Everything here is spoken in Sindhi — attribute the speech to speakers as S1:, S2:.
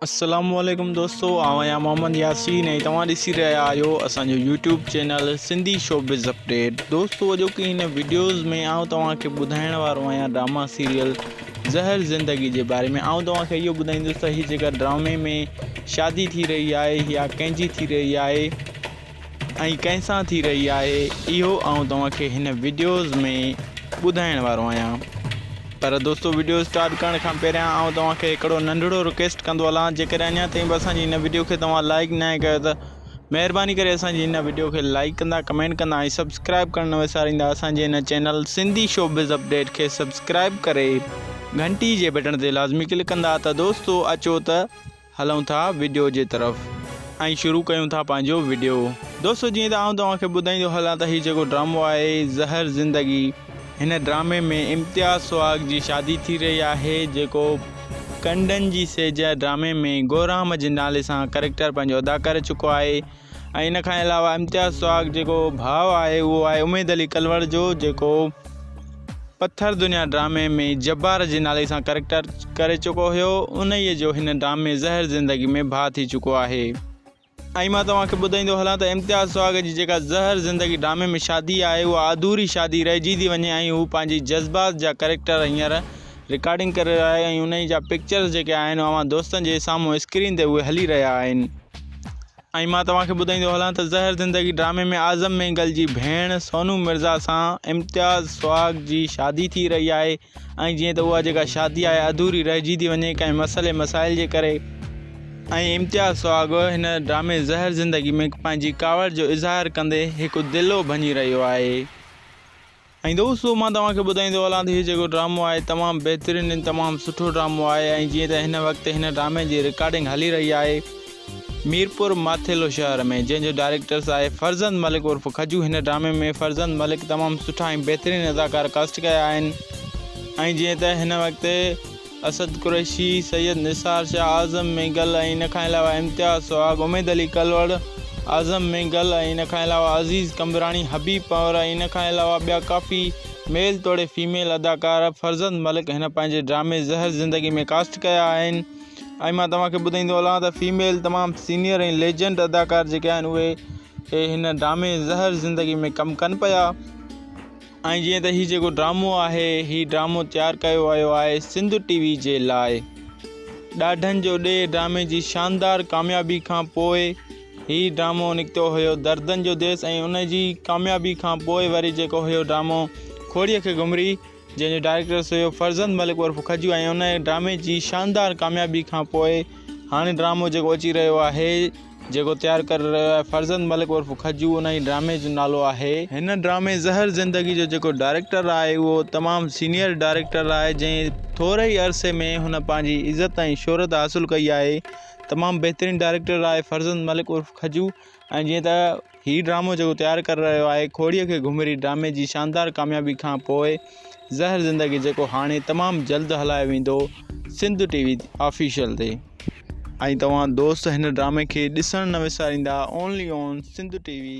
S1: السلام عليڪم دوستو آئون آهيان محمد ياسين ۽ توهان ڏسي رهيا آهيو اسان جو YouTube channel Sindhi showbiz update دوستو اڄوڪي هن ويڊيوز ۾ آئون توهان کي ٻڌائڻ وارو آهيان ڊراما سيريل زهر زندگي جي باري ۾ آئون توهان کي اهو ٻڌائيندس ته هي جيڪا ڊرامي ۾ شادي ٿي رهي آهي يا ڪنهن جي ٿي رهي آهي ۽ ڪنهن سان ٿي رهي آهي اهو آئون توهان کي هن وڊيوز ۾ ٻڌائڻ وارو آهيان پر دوستو وڊيو اسٽارٽ ڪرڻ کان پهريان آئون توهان کي هڪڙو ننڍڙو رڪويسٽ ڪندو هلان جيڪڏهن اڃا تائين به اسان جي هن وڊيو کي توهان لائڪ نه آهي ڪيو ته مهرباني ڪري اسان جي هن وڊيو کي لائڪ ڪندا ڪمينٽ ڪندا ۽ سبسڪرائب ڪرڻ نه وساريندا اسان جي هن چينل سنڌي شوبز اپڊيٽ کي سبسڪرائب ڪري گهنٽي جي بٽڻ تي لازمي ڪلڪ ڪندا ته دوستو اچو ته هلون ٿا وڊيو جي طرف ۽ شروع ڪيون ٿا پنهنجو وڊيو دوستو جيئن ته آئون توهان کي ٻڌائيندو هلان ته هي جيڪو ڊرامو آهي زهر زندگي هن ڊرامي ۾ امتياز سهاگ جي شادي ٿي رهي آهي جيڪو ڪنڊن جي سيج ڊرامي ۾ گورام جي نالي سان ڪريڪٽر پنهنجو ادا ڪري چڪو آهي ۽ ان کان علاوه امتياز سهاڳ جيڪو ڀاء آهي اهو آهي اميد علي ڪلوڙ جو جيڪو پٿر دنيا ڊرامي ۾ جبار جي نالي سان ڪريڪٽر ڪري چڪو هيو انهيء جو هن ڊرامي زهر زندگي ۾ ڀاء ٿي چڪو آهي ۽ مان توهان کي ٻڌائيندو هلان ته امتياز سهاڳ جي جيڪا زهر زندگي ڊرامي ۾ شادي آهي اها اڌوري شادي رهجي ٿي وڃي ۽ هو پنهنجي جذبات جا ڪريڪٽر هينئر رڪارڊنگ ڪري رهيو آهي ۽ انهي جا پڪچرز جيڪي آهن اوهان دوستن جي سامهون اسڪرين تي اهي هلي رهيا آهن ۽ مان توهان کي ٻڌائيندو هلان ته زهر زندگي ڊرامي ۾ اعظم مينگل جي ڀيڻ سونو مرزا سان امتياز سهاڳ جي شادي ٿي رهي آهي ۽ جيئن ته اها جيڪا شادي آهي اڌوري رهجي ٿي وڃي ڪنهن مسئلي مسائل جي ڪري ۽ امتياز سهاڳ هن ڊرامي زهر زندگي ۾ پنهنجي ڪاوڙ جو اظهار ڪندي هڪ دلو ڀڃي رهيو آهي. ۽ دوستو مان توهان کي ٻڌائيندو هلان ته هي جيڪو ڊرامو آهي تمام بهترين ۽ تمام سٺو ڊرامو آهي ۽ جيئن ته هن وقت هن ڊرامي جي رڪارڊنگ هلي رهي آهي ميرپور ماٿيلو شهر ۾ جنهن جو ڊائريڪٽرس آهي فرزند ملڪ عرف کجو هن ڊرامي ۾ فرزند ملڪ تمام سٺا ۽ بهترين اداڪار ڪاسٽ ڪيا آهن ۽ جيئن ته هن وقت اسد قريشي، سيد نثار شاهه، اعظم مينگل ۽ ان کان علاوه امتياز سهاڳ، اميد علي ڪلوڙ، اعظم مينگل ۽ ان کان علاوه عزيز قمبراڻي، حبيب پنهور ۽ ان کان علاوه ٻيا ڪافي ميل توڙي فيميل اداڪار فرزند ملڪ هن پنهنجي ڊرامي زهر زندگي ۾ ڪاسٽ ڪيا آهن ۽ مان توهان کي ٻڌائيندو هلان ته فيميل تمام سينيئر ۽ ليجنڊ اداڪار جيڪي آهن اهي هن ڊرامي زهر زندگي ۾ ڪم ڪن پيا. ۽ جيئن ته هي جيڪو ڊرامو آهي هي ڊرامو تيار ڪيو ويو آهي سنڌ ٽي وي جي لاء ڏاڍن جو ڏي ڊرامي جي شاندار ڪاميابي کان پوء هي ڊرامو نڪتو هيو دردن جو ديس ۽ ان جي ڪاميابي کان پوء وري جيڪو هيو ڊرامو کوڙيء کي گهمري جنهن جو ڊائريڪٽرس هيو فرزند ملڪ عرف کجو ۽ ان ڊرامي جي شاندار ڪاميابي کان پوء هاڻي ڊرامو جيڪو اچي رهيو آهي جيڪو تيار ڪري رهيو آهي فرزند ملڪ عرف کجو ان ئي ڊرامي جو نالو آهي. هن ڊرامي زهر زندگي جو جيڪو ڊائريڪٽر آهي اهو تمام سينئر ڊائريڪٽر آهي جنهن ٿوري ئي عرصي ۾ هن پنهنجي عزت ۽ شهرت حاصل ڪئي آهي تمام بهترين ڊائريڪٽر آهي فرزند ملڪ عرف کجو ۽ جيئن ته هي ڊرامو جيڪو تيار ڪري رهيو آهي کوڙيء کي گهمري ڊرامي جي شاندار ڪاميابي کان پوء زهر زندگي جيڪو هاڻي تمام جلد هلايو ويندو سنڌ ٽي وي آفيشل تي ۽ توهان دوست هن ڊرامي کي ڏسڻ نه وساريندا only on Sindh TV V.